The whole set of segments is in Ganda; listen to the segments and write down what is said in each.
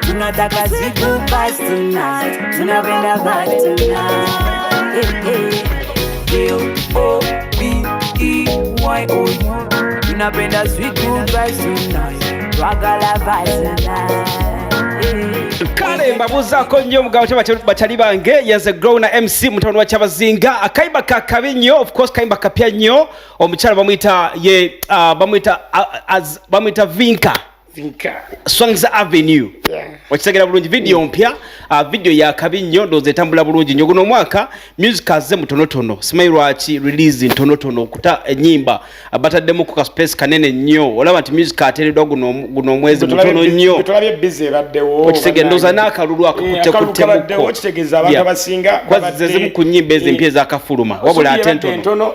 tunataka siku basi tonight, tunapenda basi tonight. Hey, hey. B-O-B-E-Y-O tunapenda siku basi tonight, twagala basi tonight. kale mbabuzaako nnyo mugabo kyabacali bange yenze grow na mc mutabani wa kyabazinga akayimba kakabi nnyo ofcourse kayimba kapya nnyo omukyala bamuyita ye ah, bamuyita ah, bamuyita vinka Swangza Avenue yeah. Wakitegera bulungi video mm. mpya uh, video ya kabi nnyo ndowooza etambula bulungi nnyo guno omwaka music azze mutonotono simanyi lwaki release ntonotono okuta ennyimba uh, bataddemu ku kaspace kanene nnyo olaba nti music ateereddwa guno omwezi mutono nnyo okitegera ndowooza n'akalulu akakutte eh, kuttemuko zezimu ku nnyimba ezimpya eh. ezakafuluma wabula ate ntono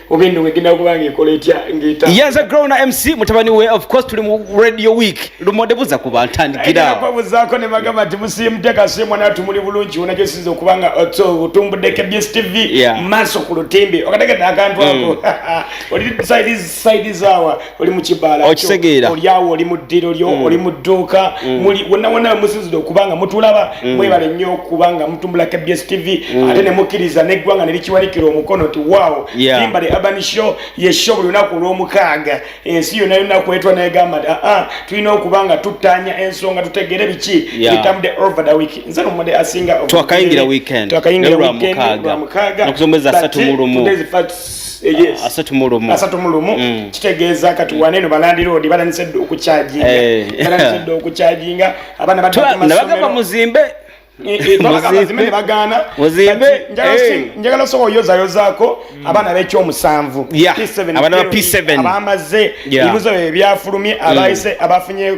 oba eno wegenda kuba ngaekola etya ngaeta yenze growna mc mutabani we of course tuli mu radio week lumode buza ku bantandikirakwabuzako ne bagamba nti musiimuteka simu natu muli bulungi wona gyesinza okuba nga uh, otumbuddeko bs tv maaso ku lutimbe okategedde akantu ako mm. oli saidi zaawa oli mu kibala okisegeera oli awo oli mu ddiro lyo mm. oli mu dduuka mm. muli wonna wonna musinzidde okuba nga mutulaba mm. mwebale nnyo okuba nga mutumbula kbs tv ate ne mukkiriza n'eggwanga ne likiwanikira omukono nti waawo limba the urban show ye show buli lunaku olw'omukaaga ensi yonna yonna kwetwa negamba nti aa ah, tulina okuba nga tuttaanya ensonga tutegere biki bitambudde over the week nze nomumade asinga twakayingira weekend twakayingira weekend lwa mukaaga nokusombeza satu mu lumu Eh, asatu mu lumu asatu mu lumu mm. kitegeeza kati wane eno balandiroodi balandise dda okukyaginga eh. balandise dda okukyaginga abaana badnabagamba muzimbe eh, nebagaana njagala osobola oyozayozaako mm. abaana bekyomusanvu abamaze ebibuzo bye byafulumye mm. abafunye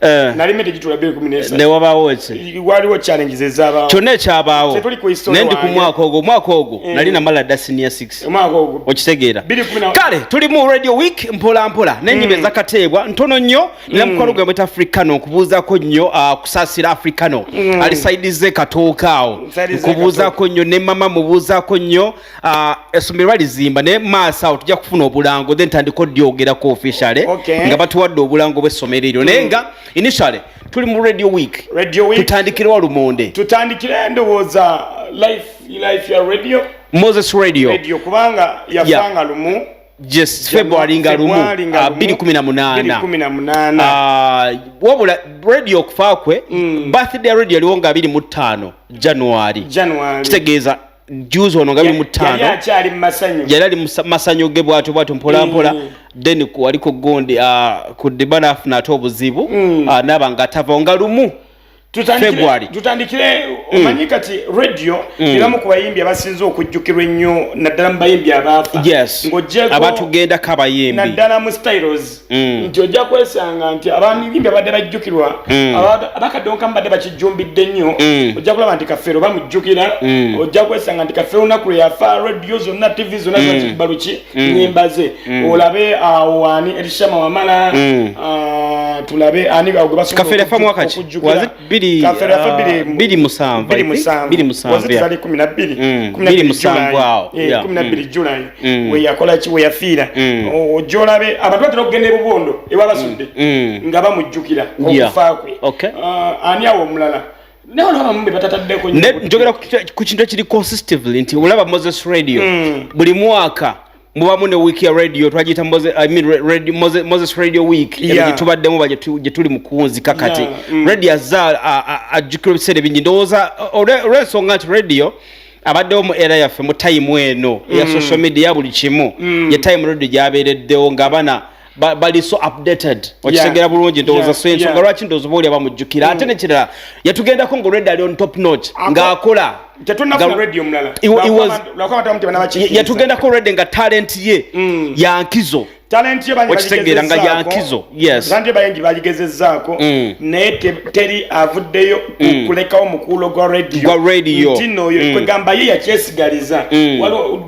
Eh. nalimete gitula biri kumi nesa ne wabawo ese waliwo challenges ezaba kyonna ekyabawo naye ndi ku mwaka ogwo omwaka ogwo eh. nali namala dda senior 6 omwaka ogwo okitegeera kale tuli mu radio week mpola mpola n'ennyimba mm. ezakateebwa ntono nnyo nina mm. mukwano gwe mweta africano nkubuuzako nnyo ah, kusaasira africano mm. ali saidize katooka awo nkubuuzako nnyo ne mama mubuuzako nnyo Ah, essomero balizimba naye maaso awo tujja kufuna obulango then tandika oddyogerako officiale nga batuwadde obulango bw'essomero eryo naye nga initiale tuli mu radio week tutandikirewa lumonde tutandikire endowooza life life ya radio moses radio radio kubanga yafanga lumu yes february nga lumu 218 ah, wabula radio okufa kwe mm. birthday radio aliwo nga 25 january kitegeeza juzi ono nga biri mu ttaano yali ali masanyu ge bwatyo bwatyo mpolampola mm. then wali ku gundi ah, ku diba naafuna ate obuzibu mm. ah, naaba nga atavawo nga lumu february tutandikire mm. omanyi kati radio iramu ku bayimbi abasinze okujjukirwa ennyo naddala mu bayimbi abaafa ng'ogyeko abatugenda kabayimbi naddala mu styles Mm. nti ojja kwesanga nti abaami bimbi abadde bajjukirwa mm. abakadonka mubadde bakijjumbidde nnyo mm. ojja kulaba nti kafeero bamujjukira ojja kwesanga nti kafeero lunaku lwe yafa radio zonna tv zonna zibakibaluki nyimba ze olabe awo ani erishama wamala ah, tulabe ani gwe basokujjukira biri ah, biri musanvu biri musanvu biri musanvu biri musanvu kumi na biri mm, kumi na biri musanvu awo eh, kumi na biri mm. July mm. we yakola ki we yafiira ojola be abantu batera okugenda ebubondo ewa basudde nga bamujjukira okufa kwe ah, ani awo omulala njogera ku kintu ekiri consistively nti olaba moses radio buli mwaka mubamu ne week ya radio twagiyita moses, I mean, radio, moses, moses radio week yeah. gyetubaddemu ba gyetuli mukunzi kakati yeah. mm. radio azza ajjukira ebiseera bingi ndowooza olwensonga nti radio abaddewo mu era yaffe mu tayimu eno eya mm. social media buli kimu mm. ye tayimu radio gyabeereddewo ng'abana bali so updated okitegera bulungi ndowooza so ensonga lwaki ndowooza booli abamujjukira mm. ate nekirala yatugendako nga olwedda ali on top notch ng'akola yatugendako olwedde nga talent ye mm. yankizo talenti okitegeera nga yankizo talenti bayingi bagigezezaako mm. naye teri avuddeyo okulekawo mukuulo gwa radio gwa radio ntino oyo kwegamba ye yakyesigaliza waliwo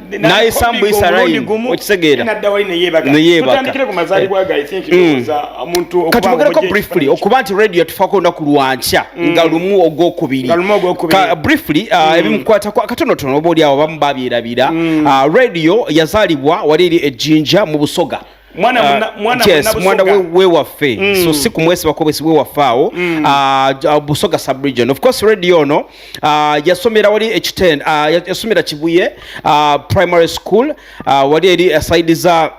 nayisa mbuyisa rayimu okitegeera neyebakatwogereko mm. briefly okuba nti radio yatufako olunaku lwankya mm. nga lumu ogwokubiri briefly uh, mm. ebimukwatako akatonotono oba oli awo bamu babyerabira uh, radio yazaalibwa wali eri ejjinja mu busoga mwana we waffe mm. so si kumwesibako bwesi we waffe awo mm. ah, ah, busoga subregion of course radio ono ah, yasomera wali ekiten yasomera kibuye primary school wali eri asaidi za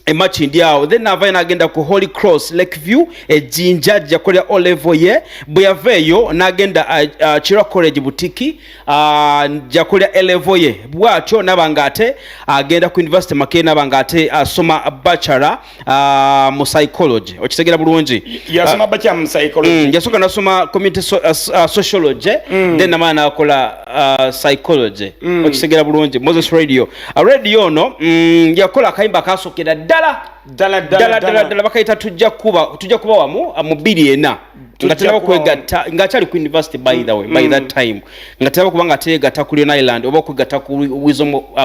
emachi ndi awo then navayo nagenda ku holy cross lake view ejinja jakolera olevo ye bwe yaveeyo nagenda kira college butiki ajja kulya elevo ye bwatyo naba nga ate agenda ku university makee naba nga ate asoma bachelor uh, mu psychology okitegera bulungi yasoma uh, bachelor mu psychology mm, yasooka nasoma community so, uh, uh, sociology mm. then namala nakola uh, psychology mm. okitegera bulungi moses radio uh, radio ono mm, yakola akayimba kasokera ddala ddala ddala ddala bakayita tujja kuba tujja kuba wamu uh, mu biri ena nga tenaba kwegatta nga akyali ku university by the way by that mm. time nga tenaba kuba nga teegatta ku leon island oba okwegatta ku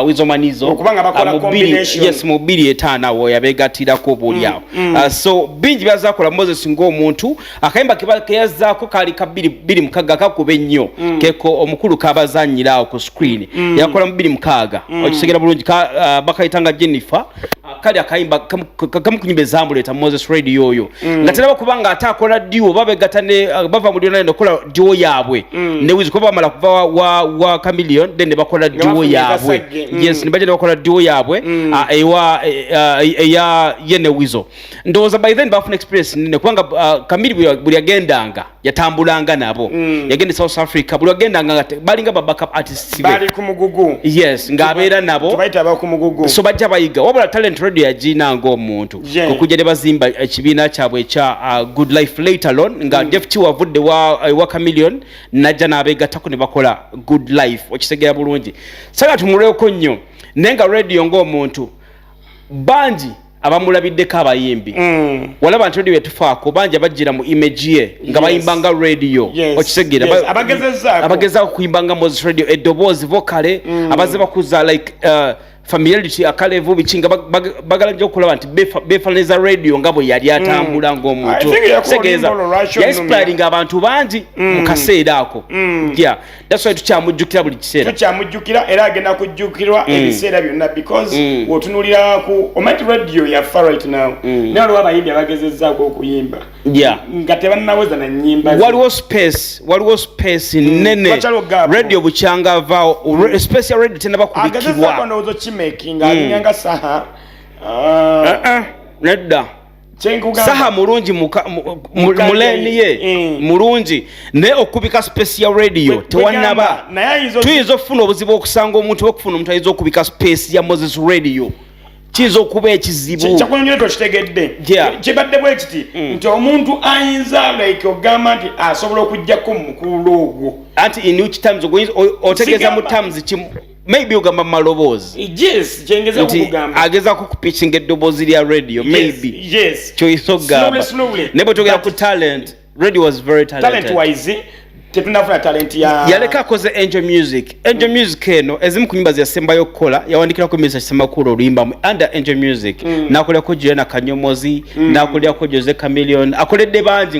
wizomanizo uh, uh, yes mu bbiri etaano awo yabeegattirako obuolyawo mm, mm. uh, so bingi byazakola moses ng'omuntu akayimba keyazzaako kaali ka bbiri mukaaga kakuba ennyo keko omukulu kabazanyira awo ku screen yakola mu bbiri mukaaga okisegera bulungi bakayita nga jennifer Ah, kali akayimba kamukunyimba ezambu leta moses radio oyo mm. nga teraba kubanga ate akola diwo babegata ne ah, bava mu lyona nekola diwo yaabwe mm. ne wizi kuba bamala kuva wa, wa, wa camilion then nebakola diwo yaabwe mm. yes nebaja nebakola diwo yaabwe mm. uh, ewa e, e, eya e, ye ne wizo ndowooza by then bafuna experience nene kubanga uh, kamili buli agendanga yatambulanga nabo mm. yagenda e south africa buli wagendanga balinga ba backup artists bali ku mugugu yes ng'abeera nabo tubayita aba ku mugugu so bajja bayiga wabula talent radio yagiina ng'omuntu yeah. okujja ne bazimba ekibiina kyabwe ekya uh, good life later lon nga mm. defti wavudde wa, uh, wa camillion najja n'abeegattako ne bakola good life okisegeera bulungi saga tumulweko nnyo naye nga radio ng'omuntu bangi abamulabiddeko abayimbi mm. walaba nti radio etufaako bangi abajjira mu image ye nga bayimba nga radio okisegera abagezaako kuyimba nga moses radio eddoboozi vokale mm. abazze bakuza like uh, familiarity akalevu biki nga bagala nyo okulaba nti befananiza radio nga bwe yali atambula mm. ng'omuntu tegeeza yainspiringa abantu bangi mu kaseera ako That's why tukyamujjukira buli kiseera. Tukyamujjukira era agenda kujjukirwa mm. ebiseera byonna because mm. otunulira ku omanyi radio ya far right now. Mm. Naye waliwo abayimbi abagezezzaako okuyimba. Yeah. Nga tebannaweza na nnyimba. Waliwo space, waliwo space mm. nnene. Mm. Radio bukyanga avaawo. Mm. Space ya radio tennaba kubikibwa. Agezezzaako ndowooza kimaking mm. alinyanga saha. Uh, uh, uh, nedda. saha mulungi muleni ye mm. mulungi naye okubika space ya radio tewanaba tuyinza okufuna obuzibu okusanga omuntu okufuna omuntu ayinza okubika space ya moses radio kiyinza okuba ekizibu kyakunyonyole tokitegedde kibadde bwe kiti mm. nti omuntu ayinza like ogamba nti asobola okujjako mumukululo ogwo anti in which times otegeeza mu times kimu maybe ogamba mu maloboozi eh, yes, nti ageza kukupikinga eddoboozi lya radio maybe yes, yes. kyoyisa okugamba naye bwetogera ku talent radio was very talented. Talent wise, tetunafuna talent ya yaleka akoze angel music angel music eno ezimu ku nyimba zeyasembayo okukola yawandikirako misa kisemakulu oluyimbamu under angel music mm. nakolako juliana kanyomozi mm. nakolako jose camilion akoledde bangi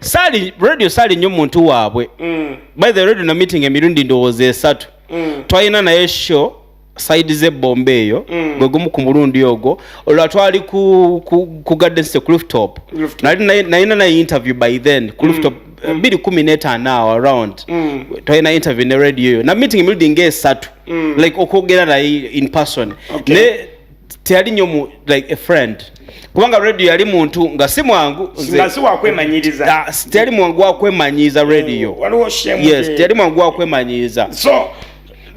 saali radio saali nyo muntu waabwe mm. by the radio na meeting emirundi ndowooza esatu mm. twalina naye show saidi ze bomba eyo mm. gwe gumu ku mulundi ogwo olwa twali ku, ku, ku gardens to clifftop nalina naye interview by then clifftop mm. mm. biri kumi netaano awo around mm. twalina interview ne radio eyo na meeting emirundi nga esatu mm. like okwogera naye in person okay. ne teyali nyo mu like a friend kubanga radio yali muntu nga si mwangu nga si wakwemanyiriza uh, ah, teyali mwangu wakwemanyiiza radio mm, yes teyali mwangu wakwemanyiiza so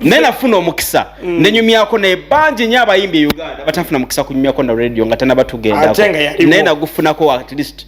naye nafuna omukisa mm. nenyumyako naye bangi nyo abayimbi e uganda batafuna mukisa kunyumyako na radio nga tanabatugenda naye nagufunako at least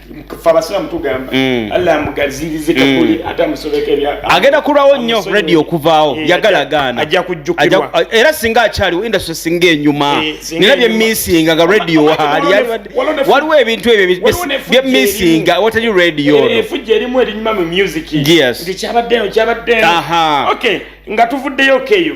Mm. agenda kulwawo nnyo redi okuvaawo eh, yagala gaana era singa akyaliwo industry singa enyuma eh, nina byemisinga nga radio waali waliwo ebintu ebyo byemisinga watali radio eh, nga tuvuddeyo keyo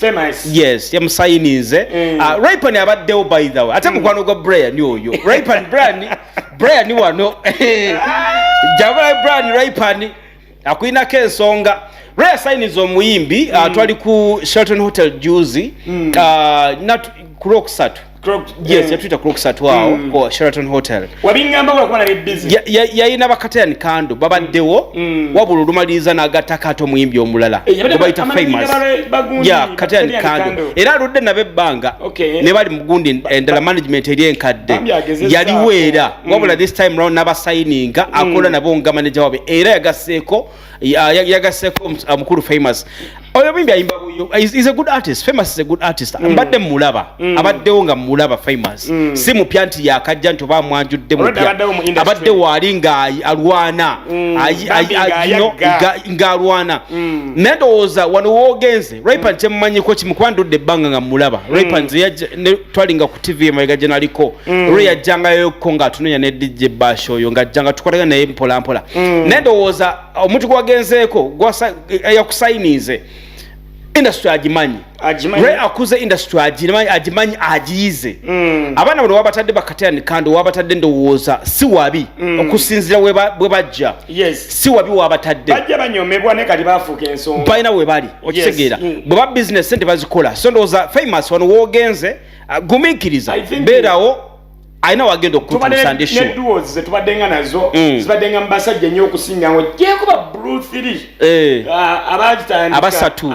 Famous. yes yamusayininze mm. uh, ah, ripan abaddewo by the way ate mm. mukwano gwa brian oyo ripan brian brian wano jabula brian ripan akulinako ensonga raya sayiniza omuyimbi ah, mm. uh, twali ku shelton hotel juzi mm. uh, ah, kulwokusatu yes yatuyita crook satwao mm. ku sheraton hotel yayina bakatayani kando babaddewo mm. wabula olumaliriza n'agattako ate omuyimbi omulala obayita eh, famous ya katayani kando era aludde nabo ebbanga ne bali mugundi endala eh, management eri enkadde yaliwo era mm. wabula this time round n'abasayininga akola nabo nga maneja wabe era yagaseeko yagaseko mukulu famous oyo muyimbi ayimba buyo is a good artist famous is a good artist mm. mbadde mulaba mm. abaddewo nga mulaba famous mm. si mupya nti yakajja nti oba amwanjudde mupya abadde waali nga alwana ng'alwana naye ndowooza wano woogenze Raypan mm. kyemmanyiko kimu kuba ndudde ebbanga nga mmulaba mm. Raypan twalinga ku tv emabega gye naliko mm. olwo yajjangayoko ng'atunenya ne dj bash oyo ng'ajjanga tukolagana naye mpolampola naye ndowooza omuntu gwagenzeeko yakusayiniize industry agimanyi re akuze industry agimanyi agimanyi agiyize mm. abaana bano wabatadde bakatani kandi wabatadde ndowooza si wabi mm. okusinzira bwe bajja yes si wabi wabatadde bajja banyomebwa ne kali bafuuka ensonga balina we bali okitegeera yes. Mm. bwe ba bizinesi sente bazikola so ndowooza famous wano woogenze uh, gumiikiriza beerawo alina wagenda okutusandetubadenga nazo mm. zibadenga mubasajja nyo okusingango jekuba bru 3 eh. uh, abasatu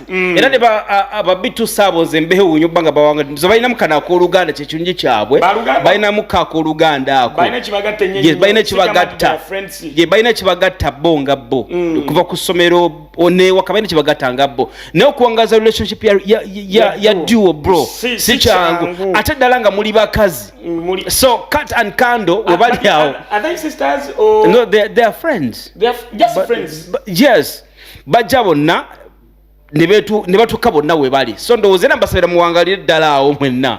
mm. era ne babitu saabo nze mbewuunya okuba nga bawanga nze balinamu kano akooluganda kyekirungi kyabwe balinamu ka akooluganda ako balina kibagatta balina kibagatta bo nga bo mm. okuva ku ssomero newaka balina kibagatta nga bo naye okuwangaza relationship ya duo bro si kyangu ate ddala nga muli bakazi mm, so cut and candle webali awo no they are friends yes bajja bonna ne batuuka bonna we bali so ndowooza era mbasabira muwangalire ddala awo mwenna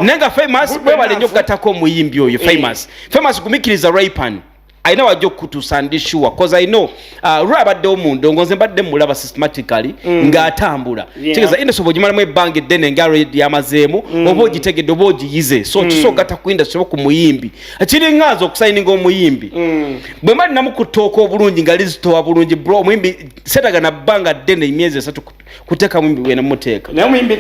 naye nga famous webale nnyo okugattako omuyimbi oyo eh. famous famous gumikiriza ripan alina wajja okukutuusa ndi sure bcause i know uh, lwa abaddewo mu ndongo nze mbadde mulaba systematically mm. ng'atambula kitegeeza industry oba ogimalamu ebbanga eddene nga red yamazeemu mm. oba ogitegedde oba ogiyize so mm. kisoogatta ku industry oba ku muyimbi kiringa nze okusayininga omuyimbi mm. bwe mba ninamu ku ttooka obulungi nga lizitowa bulungi bro omuyimbi setaga na bbanga ddene emyezi esatu kuteeka muyimbi bwena muteeka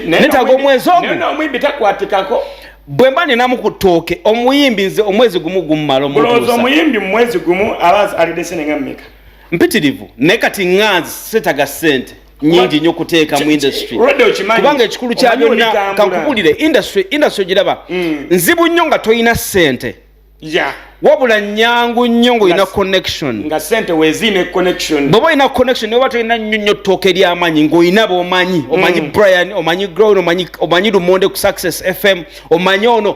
netaga omwezi ogwo bwe mba ninamu ku ttooke omuyimbi nze omwezi gumu gumumala omulowoza omuyimbi mumwezi gumu aba alidde sente nga mmeka mpitirivu naye kati nganzi setaga sente nyingi nyo kuteeka mu industry kubanga ekikulu kya byonna kankubulire industry industry ogiraba mm. nzibu nnyo nga tolina ssente wabula nyangu nnyo ngaolina connection bwoba olina connection oba tolina nnyo nnyo ttooka eryamanyi ngaolina bomanyi omanyi mm. brian omanyi grown omanyi lumonde ku success fm omanyi ono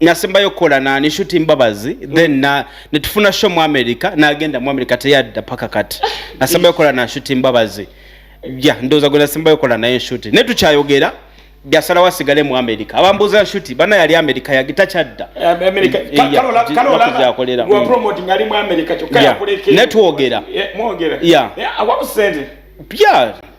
nasembayo okukola nani shuti mbabazi mm. then na netufuna show mu america nagenda mu america teyadda paka kati nasembayo okukola na shuti mbabazi ja ndoza gwe nasembayo okukola naye shuti naye tukyayogera jasala wasigale mu america abambuza shuti bana yali america yagita kyadda netwogera yeah.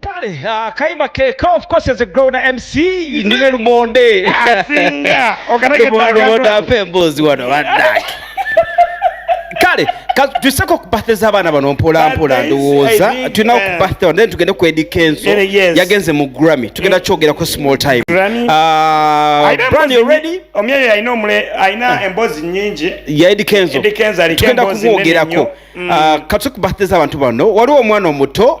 Kale akayima keka of course as a grown MC ndine lumonde asinga okanagenda afe emboozi wano badaki kale tuseko ku birthday z'abaana bano mpola mpola ndowooza tulina ku eh. birthday then tugende ku Eddy Kenzo yagenze mu Grammy tugenda eh. kyogera ku small time ah, Brian you ready omyeyo alina omule alina ah. emboozi nyingi ya Eddy Kenzo tugenda kumwogerako mm. ah, katuse ku birthday z'abantu bano waliwo omwana omuto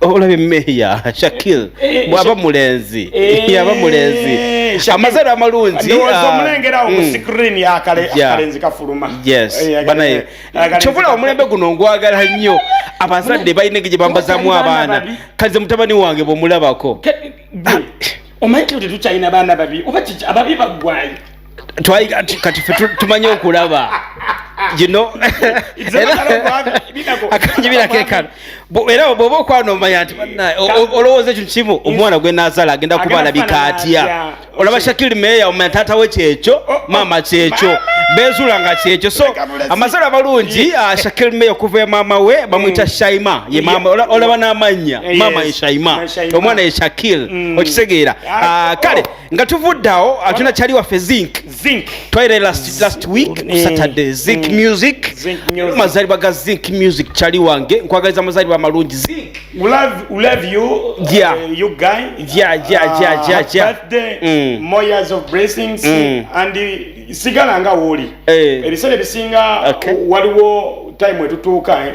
olabye meeya shakil eh, eh, bwaba mulenzi eh, yaba mulenzi amazalo amalungi kyovula omulembe guno ngwagala nnyo abazadde balina engeri gye bambazamu abaana kaze mutabani wange bwomulabako omanyi tetukyalina baana babi oba ababi baggwayo twali kati fe tumanyi okulaba akanyibirakeekano era bwoba okwana omanya nti banaye olowooza ekintu kimu omwana gwe nazaala agenda kuba alabika atya olaba shakiri meeya omanya taata we kyekyo oh, oh, maama kyekyo bezuula nga kyekyo so amazala amalungi ah, shakiri meeya okuva e maama we mm. bamuyita shaima olaba n'amannya maama ye shaima omwana ye shakir mm. okitegeera ah, ah, kale oh. nga tuvudde awo atuna kyali waffe zinc twaire last, last week ku mm. saturday zinc mm. music mazalibwa ga zinc music kyali wange nkwagaliza mazalibwa amalungi zinc sigala nga wooli eh. ebiseera ebisinga waliwo time etutuuka eh.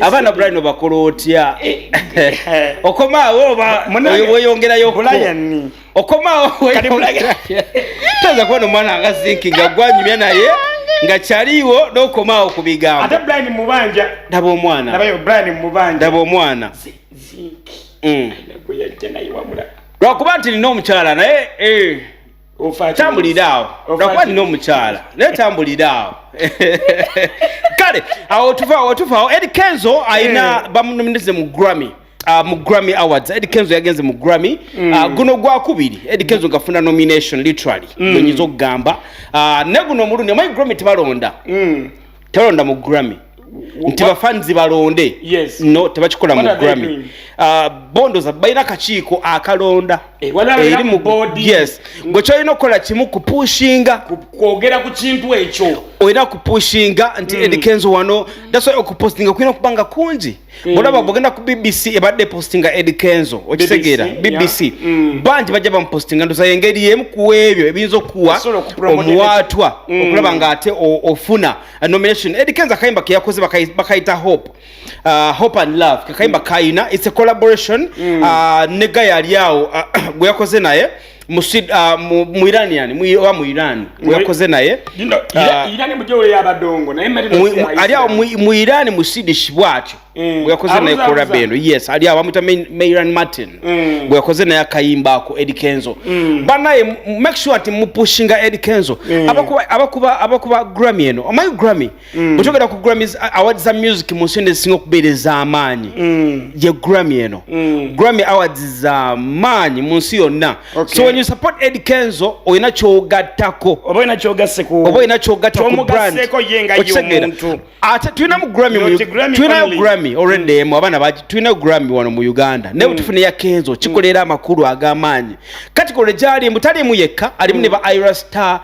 abaana brian obakola otya eh, eh. okomaawo oba weyongerayo okomaawo toza kubona omwana nga zinki nga gwanyumya naye nga kyaliwo nokomaawo ku bigambo daba omwana daba omwana mm. lwakuba nti nina omukyala naye eh. tambulira awo nakuba nina omukyala naye tambulira awo kale awo tuvaawo tuvaawo ed kenzo alina eh. bamunomineze mu grammy Uh, mu grammy awards ed kenzo yagenze mu grammy mm. uh, guno gwakubiri ed kenzo ngafuna nomination literally mm. okugamba uh, ne guno omulundi omanyi grammy tebalonda mm. talonda mu grammy nti bafanzi balonde yes. no tebakikola mu grammy uh, bondoza balina kakiiko akalonda eh, eri mu yes gwe kyolina okukola kimu kupushinga kwogera ku kintu ekyo olina kupushinga nti mm. edikenzo wano that's why okupostinga kulina okubanga kungi Mm. olaba bwogenda ku bbc ebadde postinga ed kenzo okitegeera bbc mm. bangi bajja bamupostinga ndoza engeri emu ku ebyo ebiyinza okuwa omuwaatwa mm. okulaba nga ate ofuna nomination ed kenzo akayimba keyakoze bakayita hope uh, hope and love kakayimba kayina its a collaboration uh, ne gayali awo uh, gweyakoze naye Ah, mu iran yani oba mu iran weyakoze naye ah, ali awo mu iran mu sidish bwatyo eh, weyakoze naye koraba eno yes ali awo bamwita mairan martin eh. weyakoze naye akayimba ako edi kenzo mm. banaye make sure nti mupushinga edi kenzo eh. abakuba grammy eno omanyi grammy mm. bwetogera ku grammy awards za music mu nsi nezisinga okubeera ez'amaanyi mm. ye grammy eno mm. grammy awards za maanyi mu nsi yonna okay. so when you support ed kenzo olina kyogattako oba olina kyogasse ku oba olina kyogatta ku brand okitegera ate tulina mu grammy mu tulinayo grammy already mm. emu abaana baki tulinayo grammy wano mu uganda naye mm. butufuna ya kenzo kikolera mm. amakulu ag'amaanyi kati kole gyali mbu talimu yekka alimu mm. ne ba ira star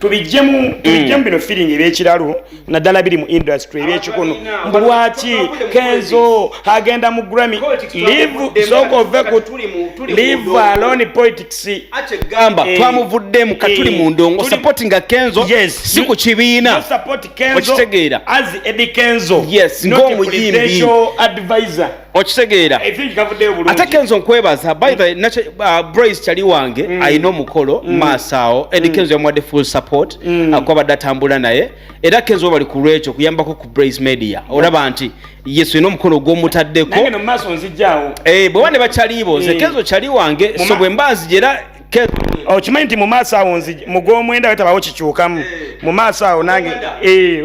tubijjemu mm. tubijjemu bino feeling ebyekiralo naddala biri mu industry ebyekikono mbu lwaki kenzo agenda mu grammy live sooka ove ku live alone politics akyegamba eh. twamuvuddemu katuli eh. mu ndongo supportinga kenzo si ku kibiina okitegeera as edi kenzo yes ng'omuyimbi okitegeera ate kenzo nkwebaza by the mm. uh, brois kyali wange mm. alina omukolo mm. maaso awo edi kenzo yamuwadde full support akwabadde atambula naye era kenzo bali ku lwekyo kuyambako ku brois media olaba nti yesu ina omukono gwomutaddeko eh, bwewa ne bakyaliibo nze kenzo kyali wange so bwe mba nzija era okimanyi nti mu maaso awo nzija mu gwomwenda wetabawo kikyukamu eh. mu maaso awo nange eh,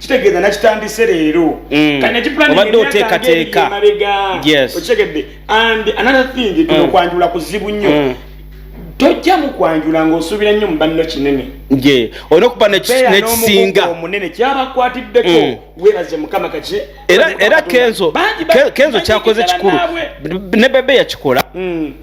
kitegeeza nakitandise leero mm. obadde oteekateeka okitegedde and another thing mm. tuno kwanjula kuzibu nnyo mm. tojja mu kwanjula ng'osuubira nnyo mu banno kinene ye olina okuba nekisinga omunene kyabakwatiddeko webaze mukama kaki era kenzo kenzo kyakoze kikulu ne bebe yakikola mm.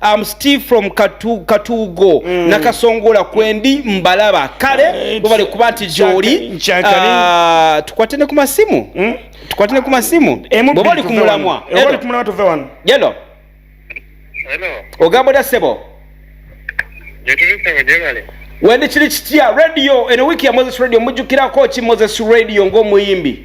am steve from katu, katugo mm. nakasongola kwendi mbalaba kale eh, bwebale kuba nti gyoli uh, tukwate ne ku masimu mm? tukwate ne ku masimu eh, bweba oli kumulamwa yelo ogamba otya sebo wendi kiri kitya radio eno wiiki ya moses radio mujjukirako ki moses radio ng'omuyimbi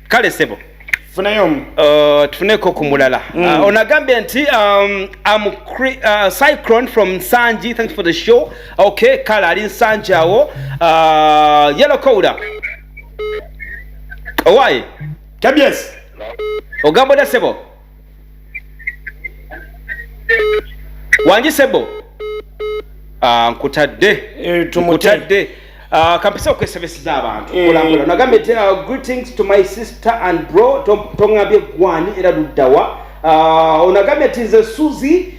kale sebo funayo omu uh, tufuneko ku mulala mm. uh, onagambye nti um, am uh, cyclone from nsangi thanks for the show okay kale ali nsangi awo uh, yellow cowda owaye kabyes ogamba oda sebo wangi sebo ah, nkutadde eh, nkutadde ah, kampisa okwesabisiza abantu eh. kulambula nagambye ti ah, greetings to my sister and bro tongambye gwani era luddawa onagambye ti nze suzi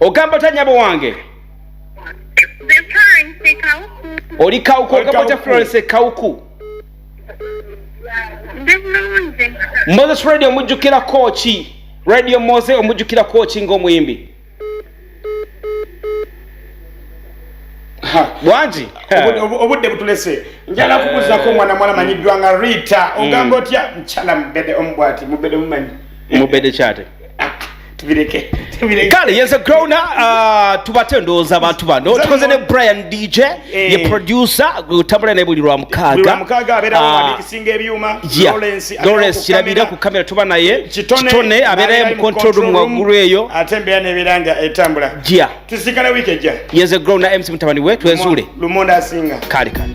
ogamba otya nyabo wange oli kawuku ogamba otya florence kawuku moses radio omujjukirako ki radio mose omujjukirako ki ngaomuyimbi bwaki obudde butulese njala kubuzako omwana mwana manyiddwa nga rita mm. ogamba otya mukyala mubede omubwati mubede mumanyi mubede kyate ah, tubireke kale yeze growna uh, tubate ndowooza abantu bano tukoze ne brian dj eh. ye producer utambula naye buli lwa mukaaga singa ebyuma Lawrence kirabira ku kamera tuba naye kitone abeerayo mu control room waggulu eyo ate embeera nebeera nga etambula jia tusikala wiiki ejja yeze grow na mc mutabani we twezuule lumonda asinga kale kale